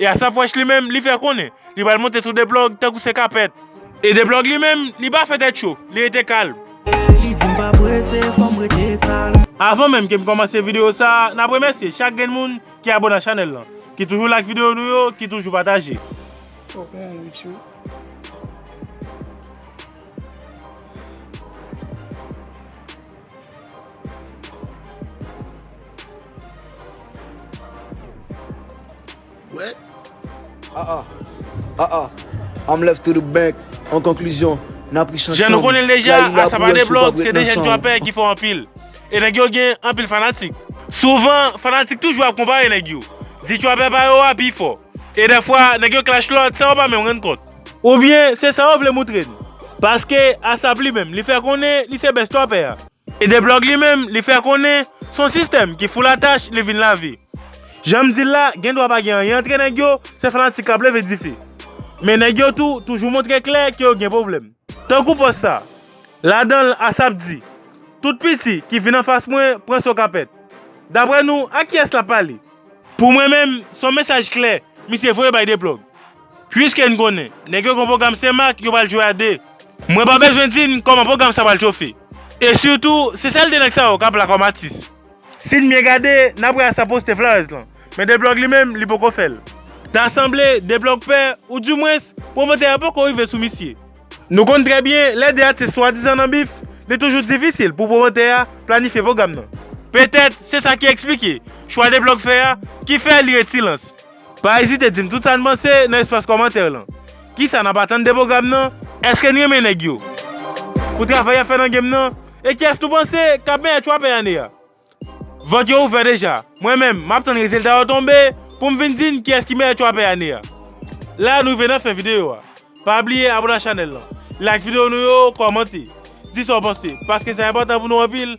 E Asapwèch li menm, li fè konnen, li pral monte sou Deplòg tankou se kapèt. E Deplòg li menm, li pa fè tèt cho, li rete kalm. Li di m pa prese, fò m rete kalm. Avan menm ke m kòmanse videyo sa, n ap remèsye chak grenn moun ki abone a chanèl lan, ki toujou like videyo nou yo, ki toujou pataje. Fòk mwen ri tjou. Jan nou konnen l deja, Asa pa de blòg, se de jèn trapè ki fò anpil. E nèg yo gen anpil fanatik. Souvan, fanatik toujou ap konpare nèg yo. Di trapè pa yo a pi fò. E dèfwa, nèg yo klash lòt san yo pa menm rann kont. Oubyen, se sa yo vle moutre n. Paske, Asap li menm, li fè konnen li se best trapè a. Edeblog li menm li fè konnen son sistèm ki fou la tach li vin lave. Janm dil la gen dwa pa gen anyen antre nèg yo se fanatik kap leve dife. Men nèg yo tou toujou montre klè ke yo gen pwoblèm. Tankou pòs sa, ladanl Asap di, Tout piti ki vin anfas mwen pran son kapèt. Daprè nou a kiyès lap pale? Pou mwen menm son mesaj klè misye voye bay Deblog. Pwiske n konnen nèg yo gon pwogram se mak yo pral jwe a 2. Mwen pa bezwen di n kòman pwogram sa pral chofe. E sitou se sèl 2 nèg sa yo k ap la kòm atis. Si n byen gade n ap wè Assa poste Flarès lan. Men Deplòg li menm li poko fè l. Ta sanble Deplòg pè ou di mwens pwomotè a poko rive sou misye. Nou konn trè byen lè 2 atis swadizan nan bif li toujou difisil pou pwomotè a planifye pwogram nan. Petèt se sa ki eksplike chwa Deplòg fè a ki fè li ret silans. Pa ezite dim tout sa n panse nan espas kòmantè lan. Kisa nap atann de pwogram nan? Eske n renmen nèg yo? Pou travay yap fè nan game nan? E kiyès nou panse kap meyè trapè ane a? Vòt yo ouvè deja, mwen menm map tann rezilta yo tonbe pou m vin di n kiyès ki meyè trapè ane a. La nou rive nan fen videyo a. Pa bliye abone ak chanèl lan, like videyo nou yo, kòmante, di sa w panse paske sa enpòtan pou nou anpil.